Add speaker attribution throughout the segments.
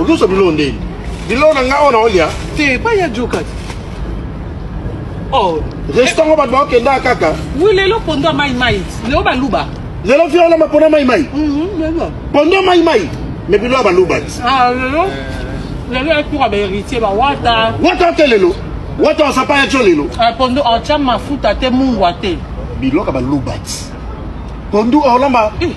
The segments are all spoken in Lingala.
Speaker 1: olusa
Speaker 2: biloko ndeni biloko na ngai oyo naolia te epai ya jokati
Speaker 1: oh. restaurant oyo bato baokenda
Speaker 2: kaka wi lelo pondo ya
Speaker 1: maimai lelo baluba lelo fi olamba pondo
Speaker 2: ya maimai mhm,
Speaker 1: pondo ya maimai
Speaker 2: me biloko ya baluba ti ah, lelo
Speaker 1: lelo ekuka baheritier bawata wata te lelo
Speaker 2: wata osapa ya tio lelo ah, pondo otya
Speaker 1: mafuta te mungwa te biloko ya baluba
Speaker 2: ti pondo olamba eh.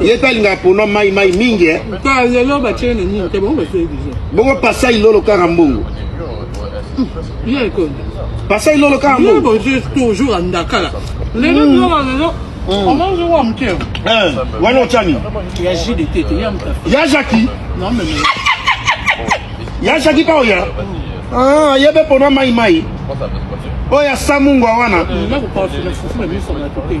Speaker 2: ye mpe alingaka pona mai mai mingi
Speaker 1: eh. bongo pasa ilolo
Speaker 2: kaka mbongo
Speaker 1: pasa ilolo kaka mbongo wana otyani ya jaki
Speaker 2: ya jaki mpa oya ah, ye mpe pona mai mai oyo ya samungwa wana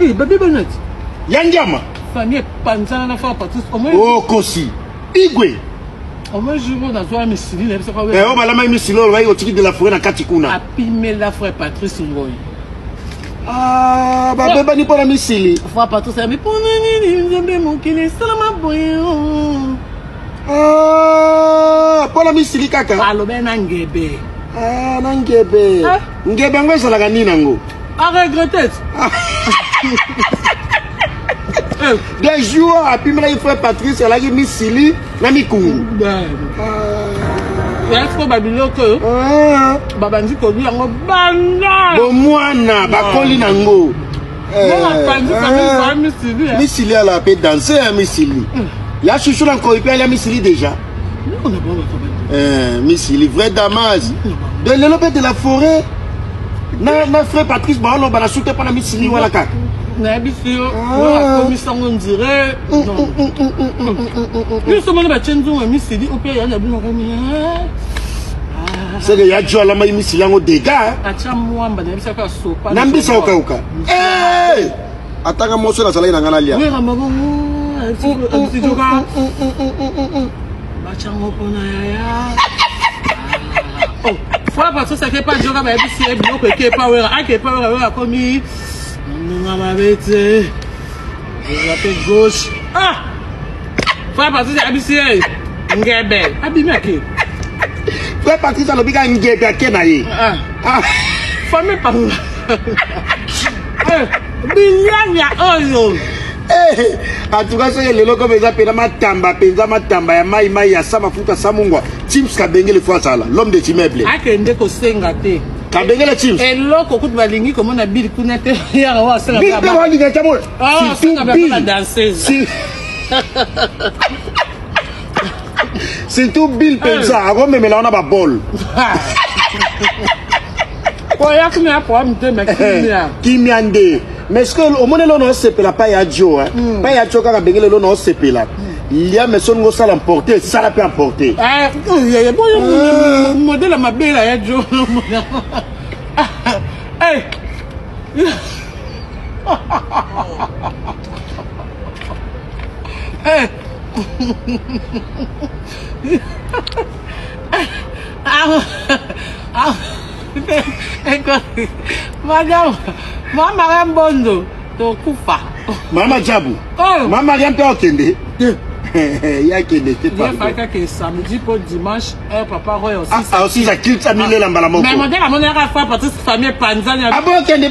Speaker 2: Eh, babe
Speaker 1: banati. Ya ndiama.
Speaker 2: Famille
Speaker 1: panzana na fa patus. Oh kosi.
Speaker 2: Igwe. Omo
Speaker 1: jour na zo misili na biso kwa. Eh, o balama misili
Speaker 2: o bayi otiki de la forêt na kati kuna. Apimela frère
Speaker 1: Patrice Ngoyi. Ah,
Speaker 2: babebani mpo na misili fois patrice yabi mpo
Speaker 1: na nini nzambe mokili esalama boye oh. ah,
Speaker 2: mpo na misili kaka alobe na ngebe
Speaker 1: ah, na
Speaker 2: ngebe ah. ngebe yango ezalaka nini yango A regretter. Des jours, apimelaki frère Patrice, alaki misili na mikungu.
Speaker 1: Yako babiloko oyo ah. babandi kolia yango banda bomwana
Speaker 2: bakoli na ngo eh, eh.
Speaker 1: misili ala mpe danse
Speaker 2: ya misili hmm. ya shushu na nkoi mpe alia misili déjà eh, misili vrai damas de lelo mpe de la forêt na na frère Patrice ba loba na sute pa na misili wala kaka nayebisi yo
Speaker 1: akomisango ndire biso mona batye nzunga misili ope ya na bino komi
Speaker 2: seke ya jo alamaki misili yango dega atya mwamba
Speaker 1: nayebisaka sopa na mbisa okauka
Speaker 2: Atanga moso na salaki na ngana lia. Wera mabongo.
Speaker 1: Sijoka. Bachango pona yaya. Oh, fois parce que ça fait pas joga ba bisi e biloko eke pa wera, ake pa wera wera komi. Nunga mabete. Wera pe gauche. Ah! Fois parce que ça bisi e ngebe. Abimi ake. Fois
Speaker 2: parce que ça lobi ka ngebe ake na ye. Ah. Ah. Famille par
Speaker 1: Eh, Binyanya oyo. Eh,
Speaker 2: atuka soki lelo comme eza pena matamba penza matamba ya mai mai ya sa mafuta sa mungwa chips kabengele fo azala l'homme des immeubles akende kosenga
Speaker 1: te kabengele chips
Speaker 2: eloko kutu balingi
Speaker 1: komona bili kuna te yaka wa asala bili pe walinga tamo
Speaker 2: surtout
Speaker 1: bili
Speaker 2: surtout bill penza akomemela wana babol
Speaker 1: oya kimia poa mitema kimia kimia nde
Speaker 2: mais ce que omoni elo na osepela pa ya jo hmm. pa ya jo kaka ndenge lelo na osepela hmm. lia mais soninga osala emporte sala mpe emporte eh, eh,
Speaker 1: boyo ah. modele mabela ya jo eh. Hey! ah, ah, madame mama ya mbondo tokufa mama jabu
Speaker 2: oh. mama ya mpe
Speaker 1: okende
Speaker 2: ya kende te pardonfakake samedi
Speaker 1: mpo dimanche eh, papa roy osisa kilta
Speaker 2: milela mbala moko mais modele amonelaka fa
Speaker 1: patisi famille epanzani abokende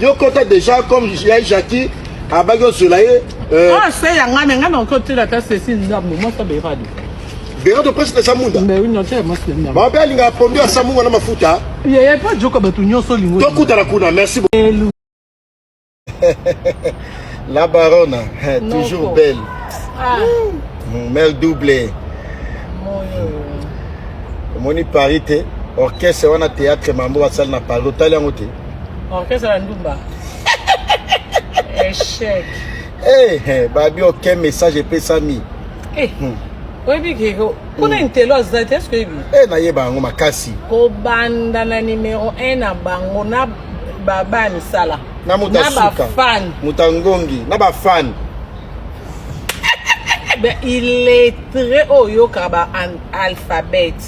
Speaker 1: Yo kota déjà
Speaker 2: comme ya Jackie abaki ozwela ye euh, ah, se ya
Speaker 1: ngai me ngai nakoki otila ata sesi ndambo mwasi aberado berado presque
Speaker 2: na samunda
Speaker 1: bango mpe alingaka pondu ya samunga
Speaker 2: na mafuta yeye mpe ajoka
Speaker 1: bato nyonso olingo tokutana kuna merci
Speaker 2: la barona toujours belle ah.
Speaker 1: mm, mère
Speaker 2: double omoni paris te orchestre wana théâtre mambo basali na paris otali yango te Orchestre ya
Speaker 1: ndumba. Echec. Eh, hey,
Speaker 2: babi aucun message epesami. Eh. Hey. Hmm.
Speaker 1: oyebi keko kuna hmm. intelo aza te eske oyebi e eh, nayeba yango
Speaker 2: makasi kobanda
Speaker 1: na numero 1 na bango na baba ya misala na moto asuka
Speaker 2: moto ya
Speaker 1: ngongi na
Speaker 2: bafani
Speaker 1: illettré oyo oyokaka ba alphabete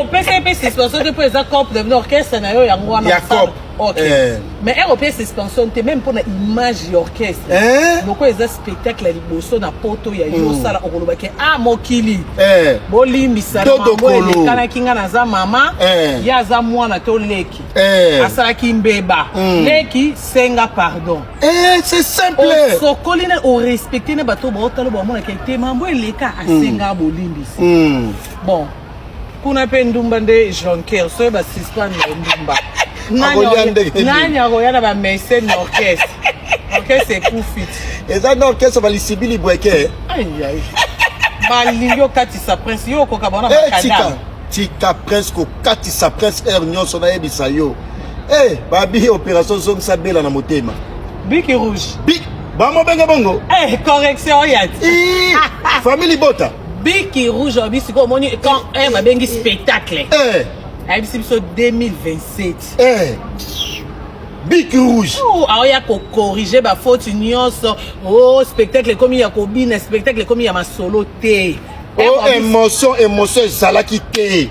Speaker 1: opesa ye mpe suspension te mpo eza cop de orchestre na yo yango wana ya cop ok eh. mais ere opesa suspension te meme mpo na image ya orchestre eh? lokola eza spectacle ya liboso na poto ya yo hmm. osala okoloba ke a ah, mokili eh. bolimbisanaelekanaki nga naza mama ye aza mwana to leki asalaki mbeba hmm. leki senga pardon c'est simple
Speaker 2: osokoli na
Speaker 1: orespecte na bato baotalo bamonaka te mambo eleka asenga hmm. bolimbisi Bon, kuna pe ndumba nde jonker soki ba suspendre na ndumba nani akoya na ba mese na orchestre orchestre ekufi eza na orchestre
Speaker 2: balisibi libweke
Speaker 1: balingi okatisa prince yo okoka bona eh, bakadam tika prince
Speaker 2: kokatisa prince aire nyonso nayebisa yo e eh, babi opération zongisa bela na motema biki rouge
Speaker 1: bamobenge
Speaker 2: bongo eh, correction
Speaker 1: oyati famille libota
Speaker 2: biki rouge
Speaker 1: abi sikoyo omoni quand eh, eh, babengi eh. spectacle eh. ayebisi biso 2027 eh.
Speaker 2: biki rouge oh, aoya
Speaker 1: kokorige bafaute nyonso o oh, spectacle ekomi ya kobina spectacle ekomi ya masolo te o oh, emotion
Speaker 2: emotion ezalaki te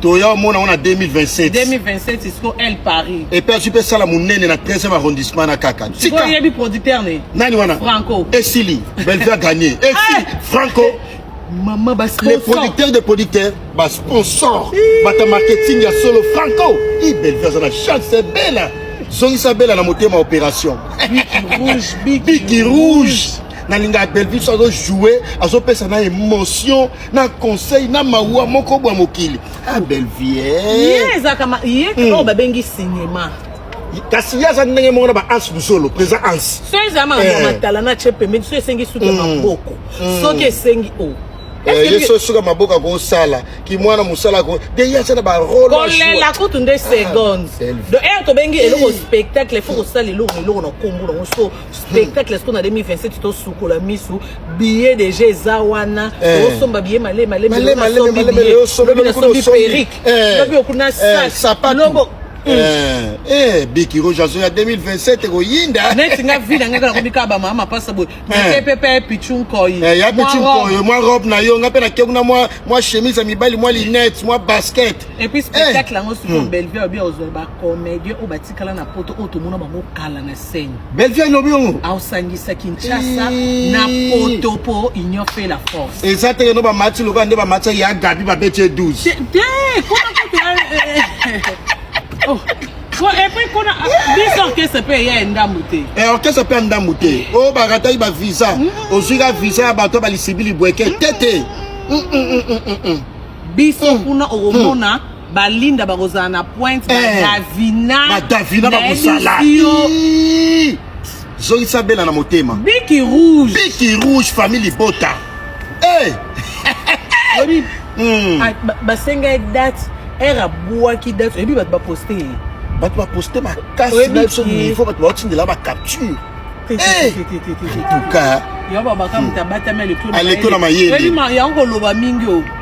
Speaker 1: toya omona yango na 2027 2027
Speaker 2: isko
Speaker 1: el paris epe azwi mpe sala
Speaker 2: monene na 13e arrondissement na kaka tikayebi producteur
Speaker 1: ne nani wana franco
Speaker 2: esili
Speaker 1: belvia
Speaker 2: gagne esili ah! franco mama
Speaker 1: les producteurs de
Speaker 2: producteurs basponsor bata marketing ya solo franco i belvia aza na chance bela zongisa bela na motema opération biki rouge nalingaka belvie so azojoue azopesa na émotion na conseil na mawa moko bwa mokili ah bellevie ye ezalaka ma-
Speaker 1: ye Hmm. oyo babengi cinéma kasi ye
Speaker 2: aza ndenge moko na ba ans busolo présent ans so ezala makambo ya Eh. matala
Speaker 1: na tye pembeni so esengi suki ya Mm. maboko Mm. soki esengi o Eh, ye so suka
Speaker 2: maboko akosala kimwana mosala ako de ye aza na barole kolela kutu nde
Speaker 1: seconde Bellevue. donc ere tobengi eloko spectacle fo kosala eloko eloko na nkombo nango so spectacle sikoyo na 2027 tosukola misu billet deja eza wana tosomba billet malemi malemiasombi perike lobi okuna sakloko
Speaker 2: biki roge azo ya 2027 ekoyinda neti nga vi na ngai kaka
Speaker 1: nakomi kaka bamama mapasa boye mikepepe pichu nkoi ya pichu nkoi mwa
Speaker 2: robe na yo nga mpe nake kuna mwa chemise ya mibali mwa linete mwa basket epuis spectacle
Speaker 1: yango sikoyo bellevue obi ozwa bacomédien oyo batikala na poto oyo tomona bango kala na Gisenyi. Bellevue alobi yango.
Speaker 2: Aosangisa
Speaker 1: Kinshasa na poto po union fait la force. Eza te no ba match
Speaker 2: lokola nde ba match ya Gabi ba bete 12. Te, te, kona kutu. Eh, eh, eh. Oh.
Speaker 1: Bon, et puis kuna biso orchestre pe ya ndambu te. Eh orchestre pe ndambu
Speaker 2: te. Oh ba ratai ba visa. Mm. Ozwi ka visa ya bato ba lisibili bweke tete. Mm. Mm, mm, mm, mm,
Speaker 1: mm. Biso kuna okomona mm. balinda bakozala na pointe badavina eh, badavina bakosala
Speaker 2: zongisa bela na motema biki rouge
Speaker 1: biki rouge famille libota
Speaker 2: eh.
Speaker 1: oyebi hmm. ah, basenga ye date ere abwaki date oyebi bato baposte ye bato baposte
Speaker 2: makasi na biso niveau bato baotindela bacapture tuka
Speaker 1: aleko na mayele
Speaker 2: yango koloba mingi
Speaker 1: o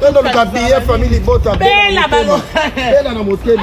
Speaker 2: toluka biye famille libota bela
Speaker 1: na
Speaker 2: motema